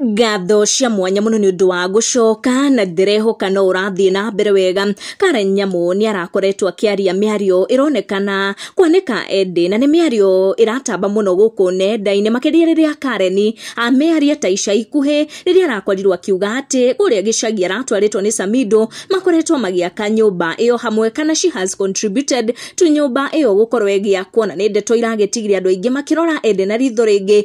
Ngatho cia mwanya mũno nĩ ũndũ wa gũcoka na ndĩrehoka no ũrathiĩ na mbere wega. Karen Nyamu nĩ arakoretwo akĩaria mĩario ĩronekana kwanĩka endĩ na nĩ mĩario ĩratamba mũno gũkũ nenda-inĩ makĩria rĩrĩa Karen amearia ta ica ikuhĩ rĩrĩa arakorirwo akiuga atĩ kũrĩa gĩcagi aratwarĩtwo nĩ Samido makoretwo magĩaka nyũmba ĩyo hamwe kana she has contributed to nyũmba ĩyo gũkorwo ĩgĩakwo na nĩ ndeto iragĩtigire andũ aingĩ makĩrora endĩ na ritho rĩngĩ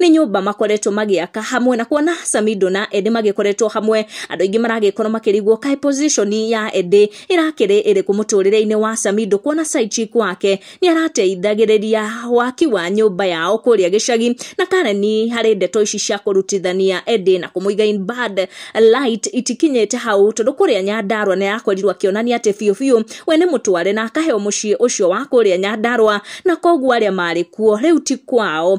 nĩ nyũmba makoretwo magĩaka hamwe na kuona samido na ende magĩkoretwo hamwe andũ aingĩ maragĩkorwo makĩrigwo kaĩ position ya ende ĩrakĩrĩ ĩrĩkũ mũtũrĩre-inĩ wa samido kuona side chick wake nĩ arateithagĩrĩria waki wa nyũmba yao kũrĩa gĩcagi na karen harĩ ndeto ici cia kũrutithania ende na kũmũiga in bad light itikinyĩte hau tondũ kũrĩa nyandarwa nĩ arakorirwo akĩonania atĩ biũ biũ we nĩ mũtware na akaheo mũciĩ ũcio wa kũrĩa nyandarwa na koguo arĩa marĩ kuo rĩu ti kwao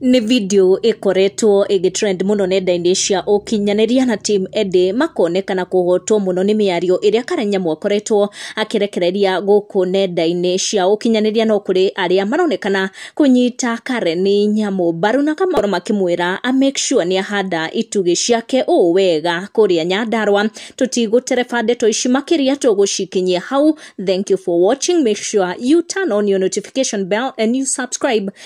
Nĩ video ĩkoretwo ĩgĩtrend mũno nenda-inĩ cia ũkinyanĩria na team Eddie makonekana kũhotwo mũno nĩ mĩario ĩrĩa Karenyamu akoretwo akĩrekereria gũkũ nenda-inĩ cia ũkinyanĩria no kũrĩ arĩa maronekana kũnyita Karen Nyamu mbaru na kamakorwo makĩmwĩra a make sure nĩ ahanda itugĩ ciake ũũ wega kũrĩa Nyandarua tũtigũtereba ndeto ici makĩria tũgũcikinyia hau thank you for watching make sure you turn on your notification bell and you subscribe